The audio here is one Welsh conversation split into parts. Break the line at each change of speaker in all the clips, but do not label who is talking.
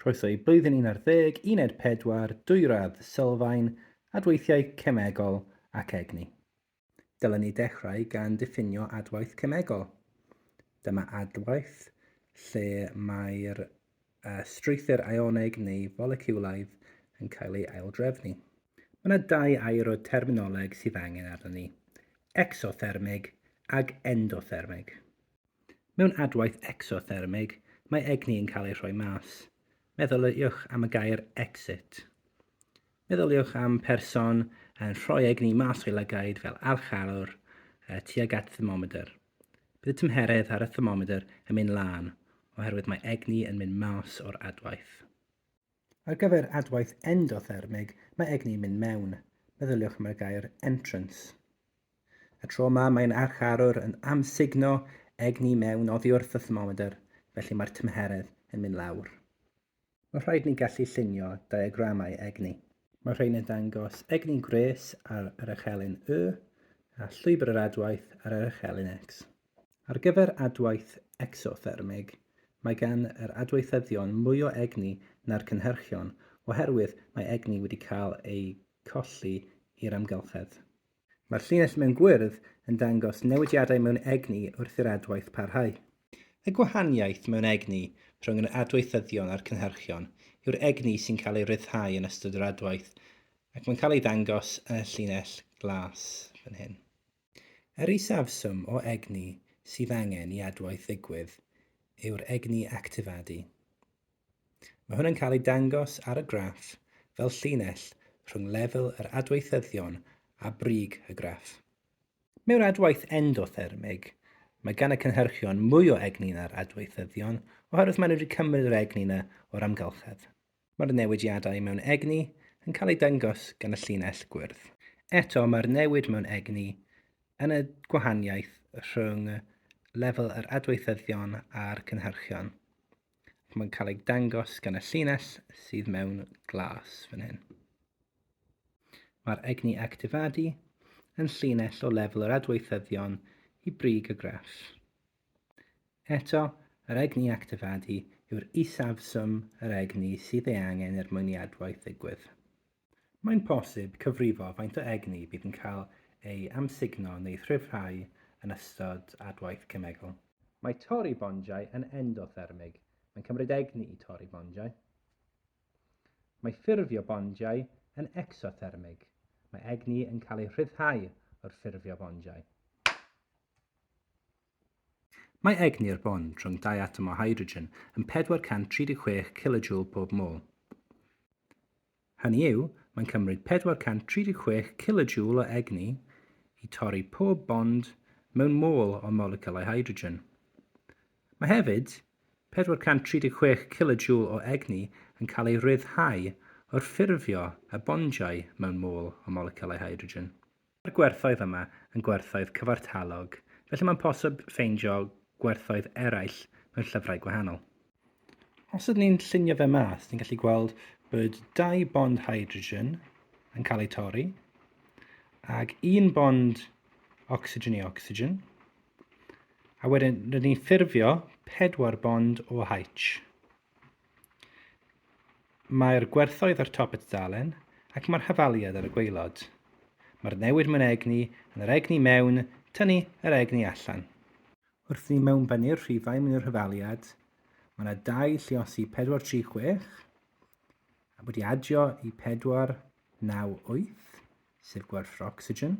Croeso i Blwyddyn 11 Uned 4 dwy radd sylfaen, adweithiau cemegol ac egni. Dylen ni dechrau gan diffinio adwaith cemegol. Dyma adwaith lle mae'r strwythur aioneg neu foleciwlaidd yn cael ei aildrefnu. Mae yna dau air o terminoleg sydd angen arnon ni, exothermig ag endothermig. Mewn adwaith ecsothermig, mae egni yn cael ei rhoi mas. Meddyliwch am y gair exit. Meddyliwch am person yn rhoi egni mas o'i lygaid fel archarwr uh, tuag at thermomedr. Bydd y tymheredd ar y thermomedr yn mynd lân, oherwydd mae egni yn mynd mas o'r adwaith. Ar gyfer adwaith endothermig, mae egni'n mynd mewn. Meddyliwch am y gair entrance. Y tro yma mae'n archarwr yn amsugno egni mewn oddi wrth y thermomedr, felly mae'r tymheredd yn mynd lawr. Mae rhaid ni gallu llunio diagramau egni. Mae'r rhain yn dangos egni gwres ar yr echelin Y a llwybr yr adwaith ar yr echelin X. Ar gyfer adwaith ecsothermig, mae gan yr adweithyddion mwy o egni na'r cynhyrchion oherwydd mae egni wedi cael ei colli i'r amgylchedd. Mae'r llinell mewn gwyrdd yn dangos newidiadau mewn egni wrth i'r adwaith parhau. Y gwahaniaeth mewn egni rhwng yr adweithyddion a'r cynhyrchion yw'r egni sy'n cael ei ryddhau yn ystod yr adwaith, ac mae'n cael ei ddangos yn y llinell glas fan hyn. Yr isafswm o egni sydd angen i adwaith ddigwydd yw'r egni actifadu. Mae hwn yn cael ei dangos ar y graff fel llinell rhwng lefel yr adweithyddion a brig y graff. Mewn adwaith endothermig, mae gan y cynhyrchion mwy o egni na'r adweithyddion oherwydd maen nhw wedi cymryd yr egni yna o'r amgylchedd. Mae'r newidiadau mewn egni yn cael eu dangos gan y llinell gwyrdd. Eto, mae'r newid mewn egni yn y gwahaniaeth rhwng lefel yr adweithyddion a'r cynhyrchion, ac mae'n cael ei dangos gan y llinell sydd mewn glas fan hyn. Mae'r egni actifadu yn llinell o lefel yr adweithyddion i brig y graff. Eto, yr egni actifadu yw'r isafswm yr egni sydd ei angen er mwyn i adwaith ddigwydd. Mae'n bosib cyfrifo faint o egni bydd yn cael ei amsugno neu rhyddhau yn ystod adwaith cemegol. Mae torri bondiau yn endothermig, mae'n cymryd egni i torri bondiau. Mae ffurfio bondiau yn ecsothermig, mae egni yn cael ei rhyddhau wrth ffurfio bondiau. Mae egni'r bond rhwng dau atom o hydrogen yn 436 kilojoule pob mol. Hynny yw, mae'n cymryd 436 kilojoule o egni i torri pob bond mewn mol o moleciwlau hydrogen. Mae hefyd 436 kilojoule o egni yn cael ei ryddhau wrth ffurfio y bondiau mewn mol o moleciwlau hydrogen. Mae'r gwerthoedd yma yn gwerthoedd cyfartalog, felly mae'n posib ffeindio gwerthoedd eraill mewn llyfrau gwahanol. Os ydyn ni'n llunio fe mas, ni'n gallu gweld bod dau bond hydrogen yn cael eu torri, ac un bond ocsigen i ocsigen, a wedyn rydyn ni'n ffurfio pedwar bond o H. Mae'r gwerthoedd ar top y tudalen, ac mae'r hafaliad ar y gwaelod. Mae'r newid mewn egni yn yr egni mewn, tynnu yr egni allan. Wrth i ni mewnbennu'r rhifau mewn i'r hafaliad, mae yna dau lliosi 436 a wedi adio i 498, sef gwerth yr ocsigen.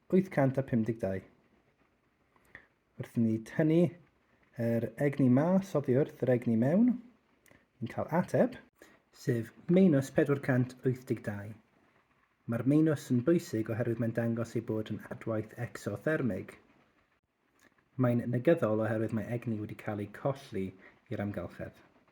852. Wrth i ni tynnu yr egni mas oddi wrth yr egni mewn, ni'n cael ateb, sef meinus 482. Mae'r meinus yn bwysig oherwydd mae'n dangos ei bod yn adwaith exothermig. Mae'n negyddol oherwydd mae egni wedi cael ei colli i'r amgylchedd.